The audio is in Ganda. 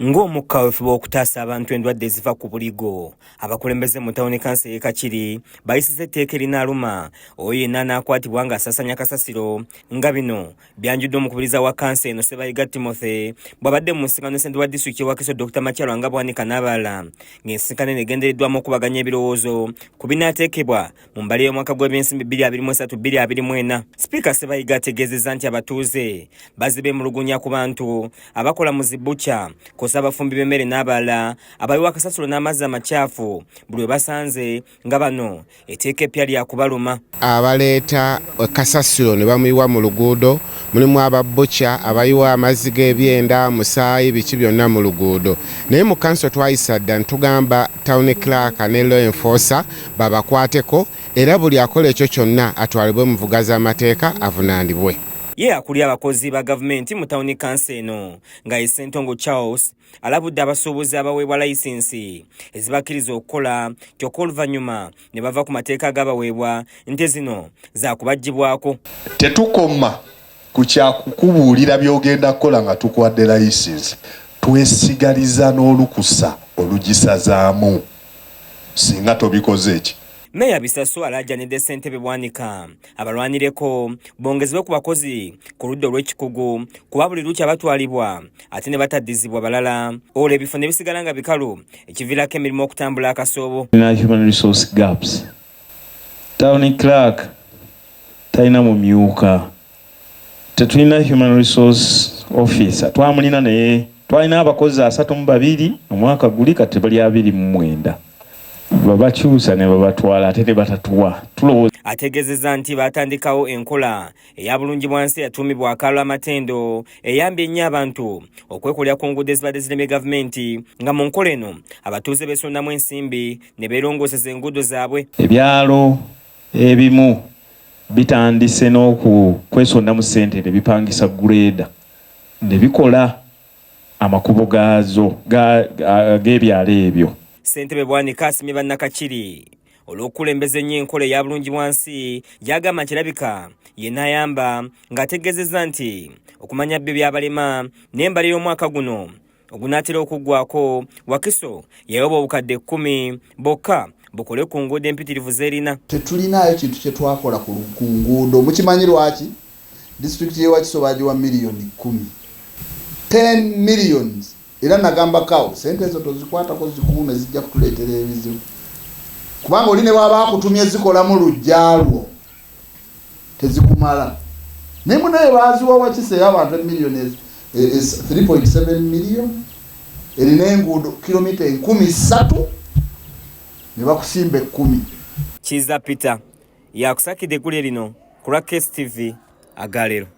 Ng'omukka wefuba okutaasa abantu endwadde eziva ku buligo, abakulembeze mu tawuni kansa ey'e Kakiri bayisiza etteeka erinaaluma oyo yenna anaakwatibwa ng'asasanya kasasiro nga bino byanjudde omukubiriza wa kansa eno Sebayiga Timothy bw'abadde mu nsisinkano ne ssentebe wa disitulikiti y'ewakiso Dr Makyalo nga Bwanika n'abalala ng'ensisinkano eno egendereddwamu okubaganya ebirowoozo ku binaateekebwa mu mbale y'omwaka gw'ebyensimbi 2023-2024 sipiika sebayiga ategeezezza nti abatuuze bazze beemulugunya ku bantu abakola mu zibukya kosa abafumbi b'emmere n'abalala abayiwa akasasulo n'amazzi amakyafu buli we basanze nga bano eteeka eppya lya kubaluma abaleeta kasasulo ne bamuyiwa mu luguudo mulimu ababukya abayiwa amazzi g'ebyenda musaayi biki byonna mu luguudo naye mu kanso twayisa dda ntugamba town clark ne law enforcer babakwateko era buli akola ekyo kyonna atwalibwe mu vuga z'amateeka avunaanibwe. Ye akulira abakozi ba gavumenti mu tawuni kansa eno nga ye Sentongo Charles alabudde abasuubuzi abaweebwa layisinsi ezibakkiriza okukola kyokka oluvannyuma ne bava ku mateeka agabaweebwa nti zino za kubaggyibwako. Tetukoma Ku kya kukubuulira by'ogenda kukola nga tukuwadde layisinsi, twesigaliza n'olukusa olugisazaamu singa tobikoze ki? Meeya Bisaso alaajanidde ssentebe Bwanika abalwanireko bongezebwe ku bakozi ku ludda olw'ekikugu kuba buli lukya batwalibwa ate ne bataddizibwa balala olwo ebifo ne bisigala nga bikalu ekiviirako emirimu okutambula akasoobo. Tulina human resource gaps Town clerk talina mumyuka, tetulina human resource officer. Twamulina naye twalina abakozi asatu mu babiri omwaka guli, kati tebali abiri mu mwenda. Babakyusa ne babatwala ate ne batatuwa tulowooza Ategeezezza nti baatandikawo enkola eya Bulungibwansi eyatuumibwa Akaalo Amatendo eyambye ennyo abantu okwekolera ku nguudo ezibadde zilemye gavumenti nga mu nkola eno abatuuze beesondamu ensimbi ne beerongooseza enguudo zaabwe. Ebyalo ebimu bitandise n'okwesonda mu ssente ne bipangisa gguleeda ne bikola amakubo gaazo g'ebyalo ebyo. Ssentebe Bwanika asimye Bannakakiri olw'okukulembeza ennyo enkola eya bulungi bwansi gy'agamba nti erabika ye n'ayamba ng'ategeezezza nti okumanya byo byabalema n'embalira omwaka guno ogunaatera okuggwako wakiso yayoba obukadde kkumi bokka bukole ku nguudo empitirivu zerina tetulinaayo kintu kye twakola ku nguudo mukimanyi lwaki disitulikiti yewakiso bagiwa miliyoni kkumi 10 millions era nagamba kawo sente ezo tozikwatako zikuume zijja kutuleetera ebizibu kubanga oli ne bwaba akutumye zikolamu lujjalwo tezikumala naye munaye baziwa wakisa eyabantu emillion 3.7 e, e, million erina enguudo kilomita enkumi ssatu ne bakusimba ekkumi kiza peter yakusakidde eggulire lino ku lwa kstv agalero